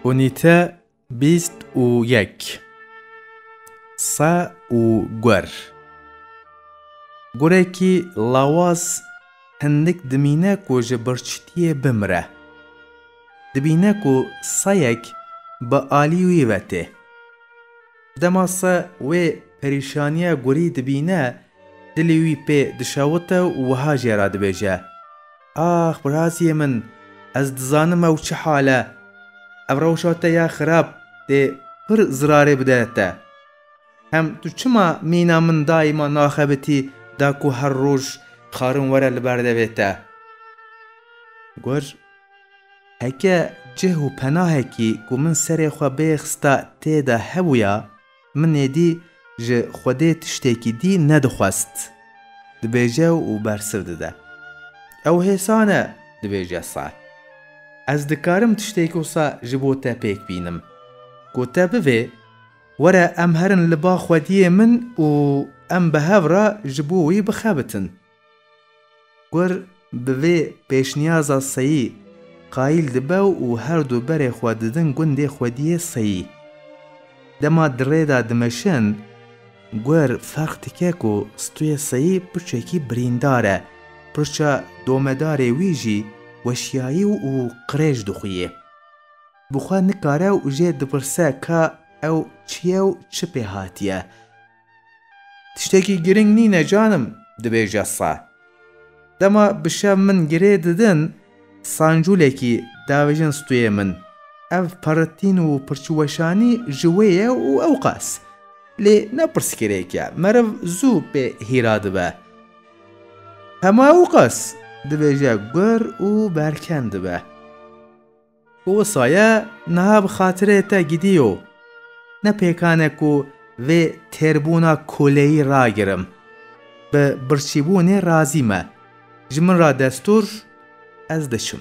Unîte bîst û yek Se û gur Gurekî lawaz hindik dimîne ku ji birçîtiyê bimire. Dibîne ku seyek bi alî wî ve tê. Dema se wê perîşaniya gurî dibîne, dilê wî pê dişewite û wiha jê re dibêje, Ax biraziyê min, ez dizanim ew çi hal e. Ev rewşa te ya xirab dê pir zirarê bide te. Hem tu çima mîna min daîma naxebitî da ku her roj karin were li ber devê te? Got, Heke cih û penahekî ku min serê xwe bê xista tê de hebûya, Min êdî ji Xwedê tiştekî dî nedixwest, dibêje û bersiv dide. Ew hêsa ne, dibêje sar. Ez dikarim tiştêk wisa ji bo te pêk bînim. Ku te bivê, were em herin li ba Xwediyê min û em bi hev re ji bo wî bixebitin. Kur bi vê pêşniyaza seyî qayîl dibe û her du berê xwe didin gundê xwediyê seyî. Dema di rê de dimeşin, Kur ferq dike ku stûyê seyî pirçekî birîndar e, pirça domedarê wî jî weşiyayî û qirêj dixuyê. Bi xwe nikare û jê dipirse ka ew çi ye û çi pê hatiye. Tiştekî girîng nîne canim, dibêje sa. Dema bi şev min girê didin, sancûlekî davêjin stûyê min. Ev perritîn û pirçiweşanî ji wê ye û ewqas. Lê ne pirsgirêk e, meriv zû pê hîra dibe. Hema ewqas, dibêje gur û berken dibe. Ku wisa ye niha bi xatirê te gidiyo. Ne pêkan e ku vê têrbûna koleyî ragirim. Bi birçîbûnê razî me. Ji min re destûr, ez diçim.